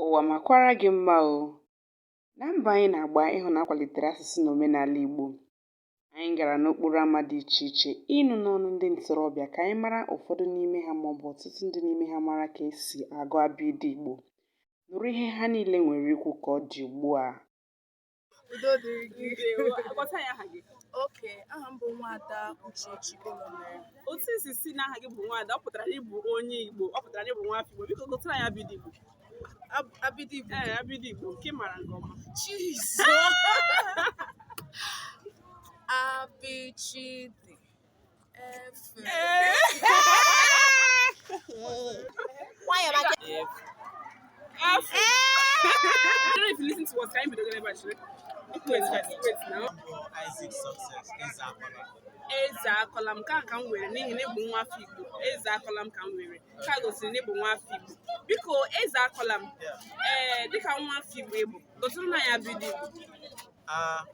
Ụwa makwara gị mma o! Na mbọ anyị na-agba ịhụ na akwalitere asụsụ na omenala Igbo, anyị gara n'okporo ama dị iche iche ịnụ n'ọnụ ndị ntorobịa ka anyị mara ụfọdụ n'ime ha maọbụ ọtụtụ ndị n'ime ha mara ka esi agụ abịịdị Igbo. Nụrụ ihe ha niile nwere ikwu ka ọ dị ugbu a. udo dịrị gị Ndewo. Gwatụ anyị aha gị. okay aha m bụ Nwaada Uchechi ụlọmere Otu i si sị na aha gị bụ nwaada, ọ pụtara na ị bụ onye Igbo, ọ pụtara na ị bụ nwa afọ Igbo. Biko gụtụrụ anyị abịịdị Igbo. abịịdị Igbo Ee, abịịdị Igbo nke ị mara nke ọma. Jesus abịchịdị nwayọọ maka Isaac success eze akọla eze akọla m ka ka m were n'ihi na ị bụ nwa afọ igbo eze akọla m ka m were nke gosiri na ị bụ nwa afọ igbo biko eze akọla m ee dịka nwa afọ igbo ị bụ gụtụrụnụ anyị abịịdị igbo a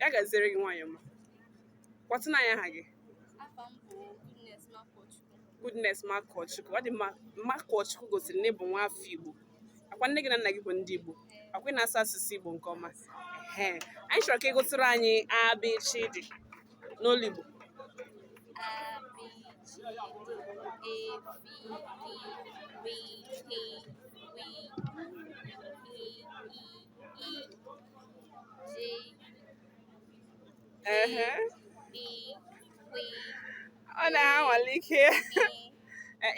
ya gaziere gị nwaanyị ọma gwatụnụ anyị aha gị Goodness Makọchukwu ọ dị mma Makọchukwu gosiri na ị bụ nwa afọ Igbo akwa nne gị na nna gị bụ ndị Igbo akwa ị na-asụ asụsụ Igbo nke ọma ee anyị chọrọ ka ị gụtụrụ anyị abịchịdị n'olu Igbo ọ na-anwale ike ya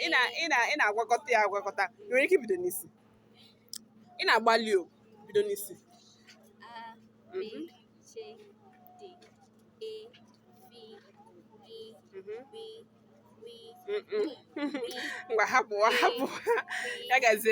ị na-agwakọta ya agwakọta i nwere ike ibido n'isi ị na-agbalị o bido n'isi ngwa hapụ hapụ ya gazie